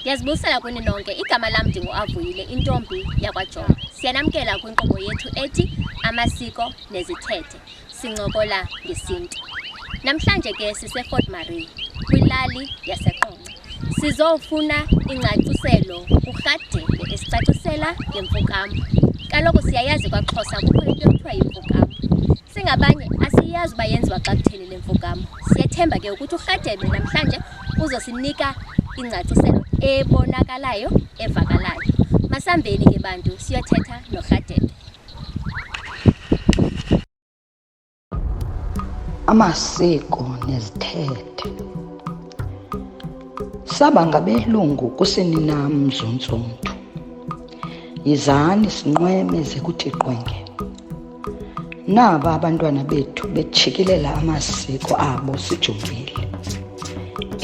Ndiyazibusela kuni nonke. Igama lam ndinguAvuyile, intombi yakwaJomo. Siyanamkela kwinkqubo yethu ethi Amasiko Nezithethe. Sincokola ngesiNtu. Namhlanje ke siseFort Marie, kwilali yaseQonce. Sizofuna ingcaciselo kuRhadebe esicacisela ngemfukamo. Kaloku siyayazi kwaXhosa kukho into ekuthiwa yimfukamo. Singabanye asiyazi uba yenziwa xa kutheni le mfukamo. Siyethemba ke ukuthi uRhadebe namhlanje uzosinika ingcaciselo ebonakalayo evakalayo masambeni ke bantu siyothetha norhadebe amasiko nezithethe saba ngabelungu kusini nam mzuntsumntu yizani sinqweme zekuthi qwenge naba abantwana bethu betshikilela amasiko abo sijongile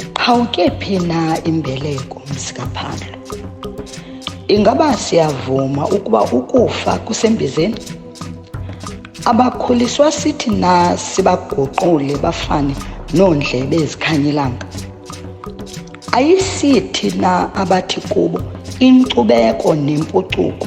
iqhawuke phi na imbeleko mzikaphando ingaba siyavuma ukuba ukufa kusembizeni abakhuliswa sithi na sibaguqule bafane noondlebe ezikhanyelanga ayisithi na abathi kubo inkcubeko nempucuko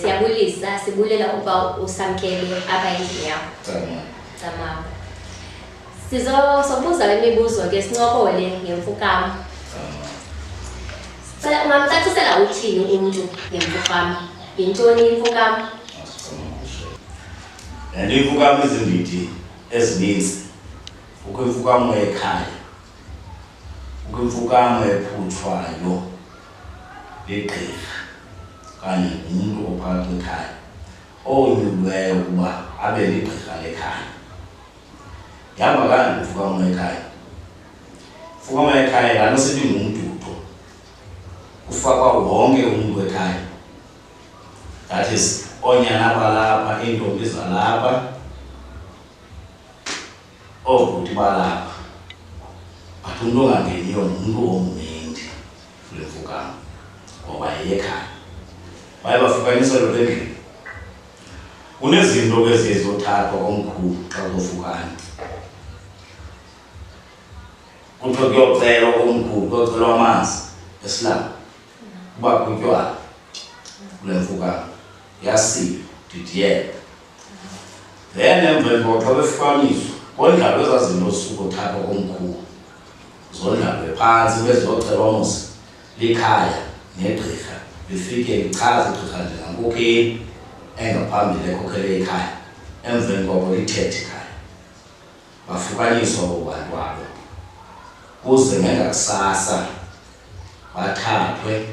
Siyabulisa, sibulela ukuba usamkele apha endlini yakho. Cama. Cama. Sizo sobuza le mibuzo ke sincokole ngemfukama. Cama. Sicela ungamcacisela uthini umntu ngemfukama? Yintoni imfukama? Nale imfukama izindidi ezininzi. Kukho imfukama yekhaya. Kukho imfukama ephutshwayo. ligqirha okanye ngumntu ophakathi kwekhaya onyulweyo ukuba abe ligqirha lekhaya. Ndihamba kanje mfukama wekhaya. Mfukama wekhaya laa nto sithi ngumdudo. Kufakwa wonke umntu wekhaya. That is oonyana balapha, iintombi zalapha, oobhuti balapha but umntu ongangeniyo ngumntu omninzi kule mfukano ngoba yeyekhaya baye bafukanisa loo endlini kunezinto ke ziye zothathwa komkhulu xa uzofukana kuthiwa kuyocelwa komkhulu kuyocelwa amanzi esilanga uba kutywala kule mfukano yasile didiyela then emva imbotho befukaniswa kondlalwe ezaa zinto osuku othatha komkhulu zondlalwe phantsi beziyocelwa mos likhaya negqirha lifike lichaze igqirha njengankokheli engaphambili ekhokhele ikhaya emveni koko lithethe ikhaya bafukaniswa bobantu abo kuze ngengakusasa bathathwe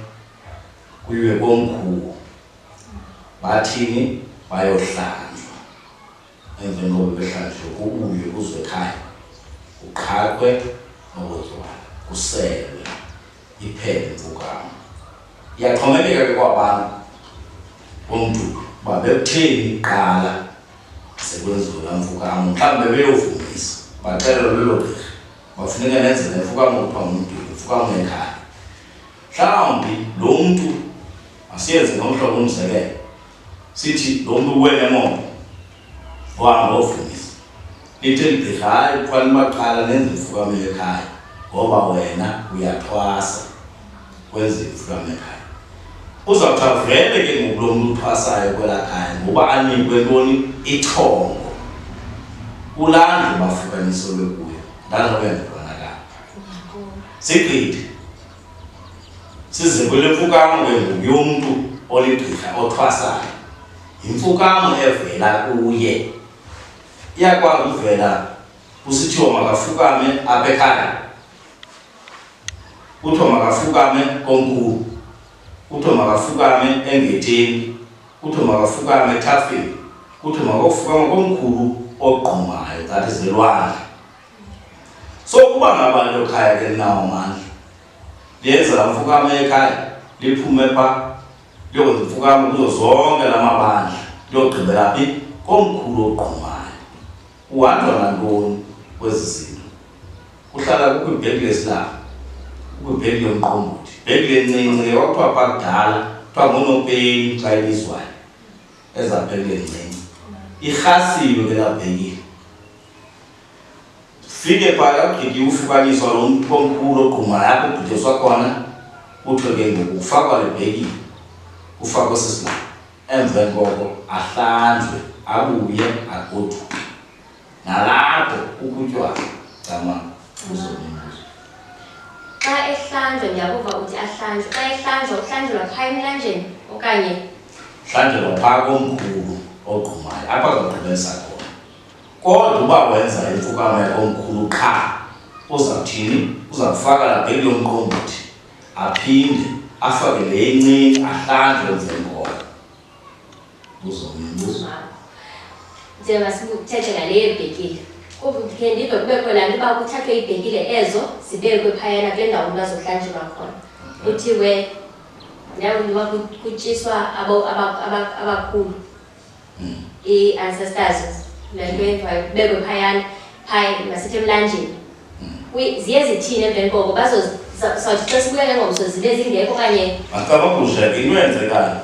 kuyiwe komkhulu bathini bayohlanjwa emveni koba behlanjwe kubuywe kuzwe ekhaya kuqhaqwe nokuzwana kuselwe iphele imvukamo iyaxhomekeka ke kwabantu bomntu uba bekutheni kuqala sekwenziwe laa mvukamo mhlawumbi bebeyovumisa baxelelwa lelo gqirha bafuneka nenze le mfukamo kuthiwa ngumduku mfukamo ekhaya mhlawumbi lo mntu Asiyenze ngomhlobo umzekelo. Sithi lo mntu uwele moto ohamba ofundisa. Lithe libhedla hayi kuthwala imaqala nenze imfukamelo ekhaya ngoba wena uyathwasa kwenze imfukamelo ekhaya. Uzawuthi avele ke ngoku lo mntu uthwasayo kwelaa khaya ngoba anikwe ntoni ithongo kulanda ubafukanisolo kuyo ndanobenza sigqithe Siziko lemfukamo ke ngoku yomntu oligqirha othwasayo. Yimfukamo evela kuye. Iyakwazi ukuvela kusithiwa makafukame apha ekhaya. Kuthiwa makafukame komkhulu. Kuthiwa makafukame engetheni. Kuthiwa makafukame ethafeni. Kuthiwa makofukama komkhulu ogqumayo, that is elwandle. so ukuba ngaba nto khaya ke linawo mandla liyenza la mfukamo ekhaya liphume pha liyokwenza imfukamo kuzo zonke la mabandla liyogqibela phi komkhulu ogqumayo uhanjwa nantoni kwezi zinto kuhlala kukwibheki lesilanga kukwibheki yomqombothi bheki lencinci ke kwakuthiwa pha kudala kuthiwa ngunopeni xa ibizwayo ezabheki lencinci irhasiwe ke labhekile Fike phaya ugidi ufukaniswa lo mntu omkhulu ogquma yakho ubhidiswa khona kuthiwe ke ngoku ufakwa le bhekile ufakwe sisilanga emva koko ahlanjwe abuye agoduke nalapho ukutywala camanga uzonimbuzo xa ehlanjwa ndiyakuva uthi ahlanjwe xa ehlanjwa uhlanjelwa phaa emlanjeni okanye hlanjelwa phaa komkhulu ogqumayo apha zogqibelisa Kodwa uba wenza imfukama yakomkhulu qha uzawuthini uzakufaka labheki lomqombothi aphinde afake le incinci ahlanjwe nzengoma uzombuza njengoba sikuthethe ngale yebhekile kuvutike ndive kube khona nto uba kuthathwe iibhekile ezo zibekwe phayana kule ndawo umntu azohlanjelwa khona kuthiwe ndiyakuba kutyiswa abakhulu hmm. i-ancestors lentwenzayo kubekwe phayana phaya masithi emlanjeni hmm. ziye zithini emveni koko bazozawuthi xa sibuya ke ngomso zibe zingekho okanye antsababusha into yenzekayo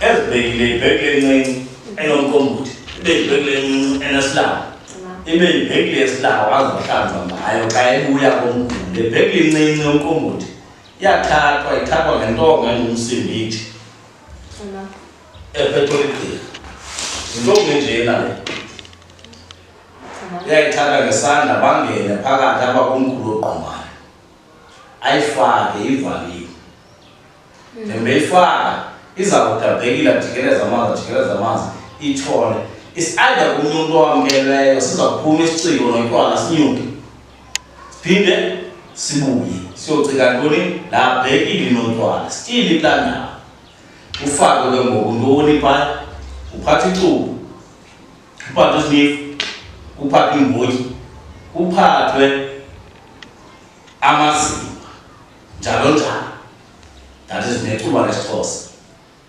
ezibekile ibheki lencinci enomqombuthi ibe yibheki lencinci enesilanga ibe yibheki lesilanga wazohlanza ngayo xa ebuya komguli le bheki lencinci yomqombuthi iyathathwa ithathwa ngentonga engumsimbithi epepolitiki yintombi njena le yayithatha ngesandla bangene phakathi apha kumkhulu ogqumane ayifake ivaliwe ndembeyifaka hmm. iza kudabhekile ajikeleza amanzi ajikeleza amanzi itshole isiayida komnye umntu owamkeleyo siza kuphuma isiciko noyintwana sinyuke siphinde sibuye siyocika ntoni labhekile nontwana sitile kulaa ndawo ufake ke ngoku ntoni phaa uphatha icubu uphathe isnifu kuphatha iimbotyi kuphathwe amazinga njalo njalo that is necuba lesixhosa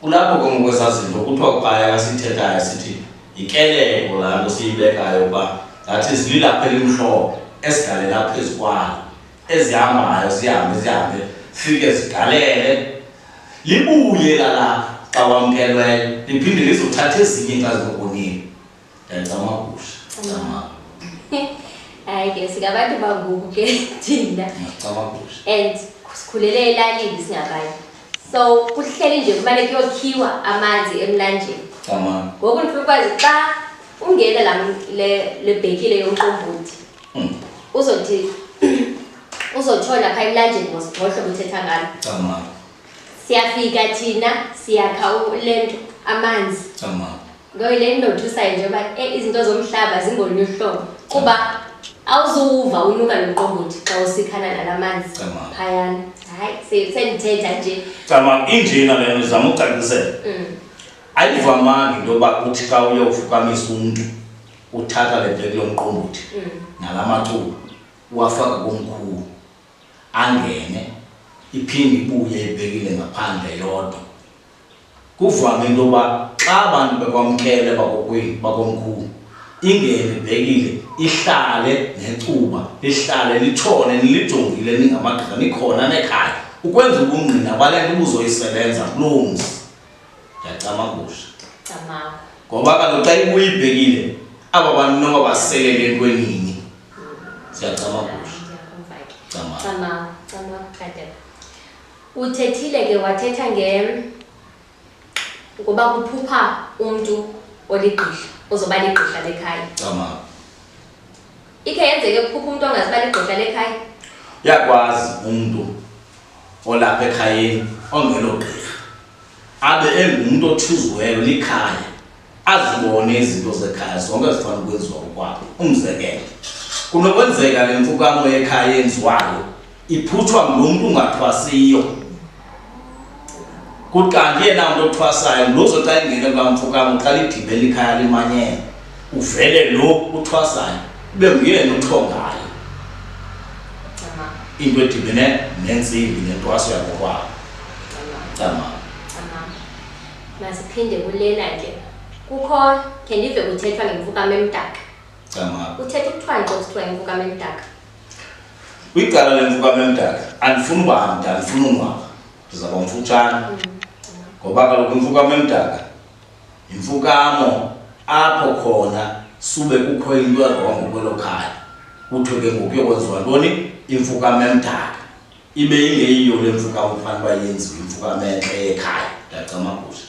kulapho ke ngoku ezazinto kuthiwa kuqaya kasithethayo sithi yikeleko laa nto siyibekayo uba that is lilapha elimhlophe esigalela phezu kwalo ezihambayo zihambe zihambe fike zidalele libuye lalapha xa wamkelweyo liphinde lizothatha ezinye xa zizokonile ndiyacamagusha camagu hayi ke singabantu bangoku ke thina ndiyacamagusha and sikhulele elalini singabanye so kuhleli nje kumane kuyokhiwa amanzi emlanjeni ngoku ndifuna ukwazi xa ungena le bhekile yomqombothi uzothi uzotshona phaa emlanjeni ngohlobo uthetha ngalo siyafika thina siyakha le nto amanzi ngoyo le nto ndothusayo nje uba e izinto zomhlaba zingolunye uhlobo kuba awuzuwuva unuka nomqombothi xa usikhana nala manzi phayana hayi sendithetha nje cama injena le nto ndizama ucacisela mm. ayivamanga into yoba kuthi xa uyofukamisa umntu uthatha le bheki lomqombothi mm. nala macuba uwafaka komkhulu angene iphinde ibuye ibhekile ngaphandle yodwa kuvame into yoba xa abantu bekwamkele bakokwini bakomkhulu ingene ibhekile ihlale necuba lihlale litshone nilijongile ningamagqisa nikhona nekhaya ukwenza ubungqina kwale nto ubuzoyisebenza kuloo mzi ndiyacamagusha camago ngoba kaloku xa ibuyibhekile aba bantu noba baselele entwenini siyacamagusha ndiyakumva ke camago camago camago qadela uthethile ke wathetha nge ngoba kuphupha umntu oligqirha ozoba ligqirha lekhaya camago ikhe yenzeke kuphupha umntu ongazibali igqosha lekhaya uyakwazi umntu olapha ekhayeni ongelogqirha abe engumntu othuziweyo likhaya azibone izinto zekhaya zonke zifana ukwenziwa ukwabo umzekelo kunokwenzeka le mfukamo yekhaya yenziwayo iphutshwa ngulo mntu ungathwasiyo kuthi kanti yena mntu othwasayo ngulozo xa ingene kamfukam uqala igibela ikhaya limanyela uvele lo uthwasayo ube nguyena uthongayo into edibene nentsimbi nentwaso yakokwabo cama masiphinde kulena ke kukho khe ndive kuthethwa ngemfukam emdaka cama kuthethwa kuthiwa nto kuthiwa ngemfukam emdaka kwicala lemfuka memdala andifuni uba mntu andifuni ungwaka ndizawuba mfutshane ngoba kaloku imfuka memdala yimfukamo apho khona sube kukho into erongo kwelo khaya kuthiwe ke ngoku yokwenziwa ntoni imfuka memdala ibe ingeyiyo le mfuka ufanele uba yenziwe imfuka mentle yekhaya ndiyacamagusha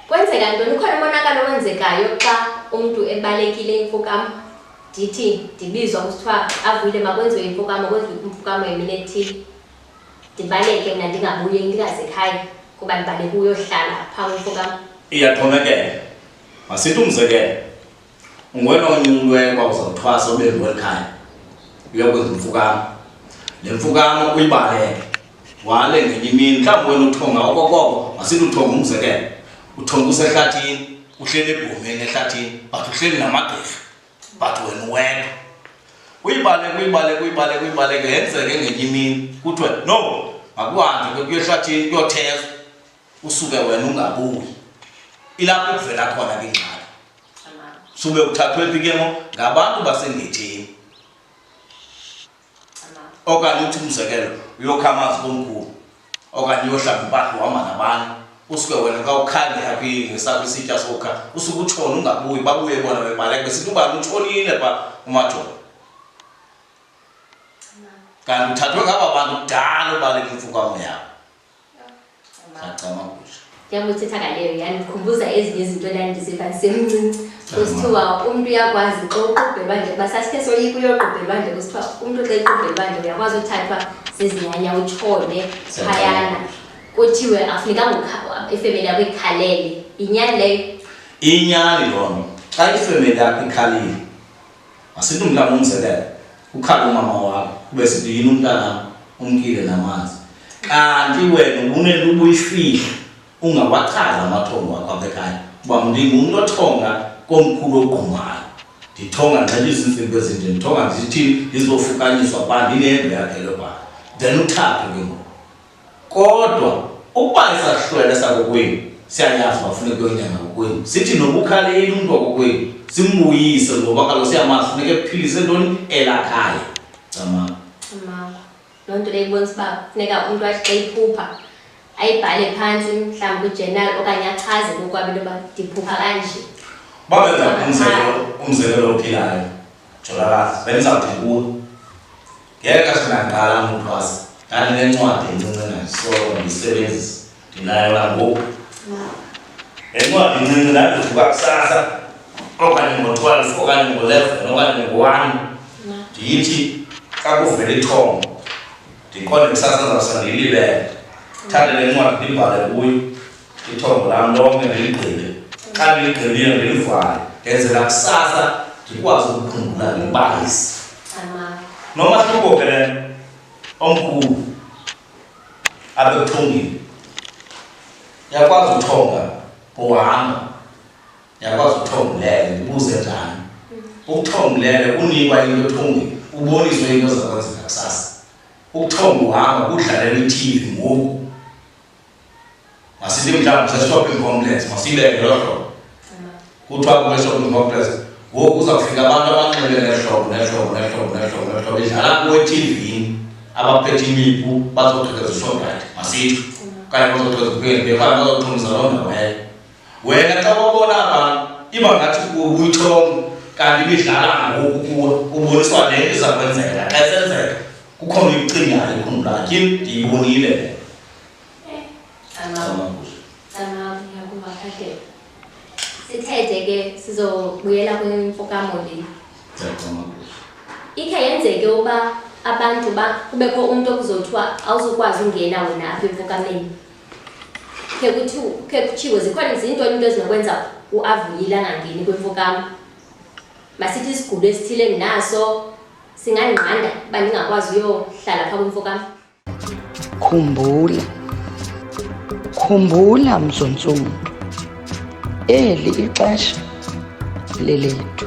kwenzeka ntoni ukhona umonakalo owenzekayo xa umntu ebalekile imfukam ndithi ndibizwa kusithiwa avuyile makwenziwe imfukam kwenziwe imfukam yemini ethile ndibaleke mna ndingabuye ndingazekhaya kuba ndibaleke uyohlala phaa kwimfukam iyaxhomekela masithi umzekelo ungwena onyululweyo kwa uzawuthwasa ube ngweli khaya uyakwenza umfukamo le mfukamo uyibaleke wale ngenye imini mhlawumbi wena uthonga okokoko masithi uthonga umzekelo uthonga usehlathini uhleli ebhomeni ehlathini but uhleli namagqirha but wena uwedwa uyibaleke uyibaleke uyibaleke uyibaleke yenzeke ngenye imini kuthiwe no makuhambe kuyehlathini kuyothezwa usuke wena ungabuyi ilapho kuvela khona ke ingxaki sube uthathwe phi ke ngo ngabantu basengetheni okanye uthi umzekelo uyokha amazi komkhulu okanye uyohlamba impahla uhamba nabanye usuke wena ka ukhande aphi ngesakho isitya sokha usuke utshona ungabuyi babuye bona bebaleke besithi ubani utshonile pha umajola kanti uthathwe ngaba bantu kudala ubaleka imfukwamo yakho Sacamagusha. Njengoba uthetha ngaleyo yandikhumbuza ezinye izinto endandiziva ndisemncinci kusithiwa umntu uyakwazi xa uqubhelwa nje kuba sasithe soyika uyoqubhelwa nje kusithiwa umntu xa equbhelwa nje uyakwazi uthathwa zizinyanya utshone phayana kuthiwe afunekanga ifemeli yakho ikhalele yinyani leyo inyani loo nto xa ifemeli yakho ikhalile Masithi umntana umzekelo ukhala umama wakho ube sithi yini umntana umkile namanzi kanti wena ubunento ubuyifihla ungawachaza amathongo akho apha ekhaya uba ndingumntu othonga komkhulu ogqumayo ndithonga nxela izintsimbi ezinje ndithonga ndithini ndizofukanyiswa ba ndinehembe yakhe lobana then uthaphe ke ngoku kodwa ukuba isahlwele sakokwenu siyayazi uba funeka uyonyanga kokwenu sithi nokukhaleli umntu wakokwenu simbuyise ngoba kaloku siyamazi funeka ephilise ntoni elakhaya camako camako loo nto leyibonisa uba funeka umntu athi xa iphupha ayibhale phantsi mhlawumbi kwijenali okanye achaze kokwabo into yoba ndiphupha kanje babenza umzekelo umzekelo ophilayo Jolakazi, bendizawuthi kuwe. Ngeke xa ndingaqala umthwasa. Ndandinencwadi encinci ndandisolo ndiyisebenzisa. Ndinayo nangoku. Le ncwadi incinci ndandivuka kusasa okanye ngo-twelve okanye ngo-eleven okanye ngo-one ndiyithi xa kuvela ithongo ndiqonde kusasa ndizawusa ndiyilibele. Thathe le ncwadi ndibhale kuyo. ithongo lam lonke ndiligqibe xa ndiligqibile ndilivale ngenzela kusasa ndikwazi ukukhumbula ngebalisi nomahluko ke le omkhulu apha ekuthongile yakwazi uthonga kuhamba yakwazi uthonga ulele ndibuze njani ukuthonga ulele unikwa into ethongile uboniswe into zakwenzeka kusasa ukuthonga uhamba kudlalela ithivi ngoku Masinde mhlawumbi se-shopping complex, masinde eDolopho. Kuthiwa kule shopping complex ngoku uza kufika abantu abanxele nehlobo nehlobo nehlobo nehlobo nehlobo idlala kuwe eTV-ni abaphethe imipu bazogqekeza uShoprite, masitsho. Okanye bazogqekeza uPick n Pay, okanye bazoxhumisa loo ndawo leyo. Wena xa ubona abantu iba ngathi uyithongo kanti ibidlala ngoku kuwe uboniswa le iza kwenzeka xa isenzeka kukhona uyicingayo ekhumlakhe ndiyibonile Eh, sithethe ke sizobuyela kwimfokamolini ikhe yenzeke uba abantu ba kubekho umntu okuzothiwa awuzukwazi ungena wena apha emfokameni khe kuthiwa khe kutshiwo zikhona zintoni into ezinokwenza uavuyile angangeni kwimfokam masithi isigulo esithile ndinaso singandinqanda uba ndingakwazi uyohlala phaa kwimfokam Khumbula, khumbula mzontsundu, eli ixesha lelethu.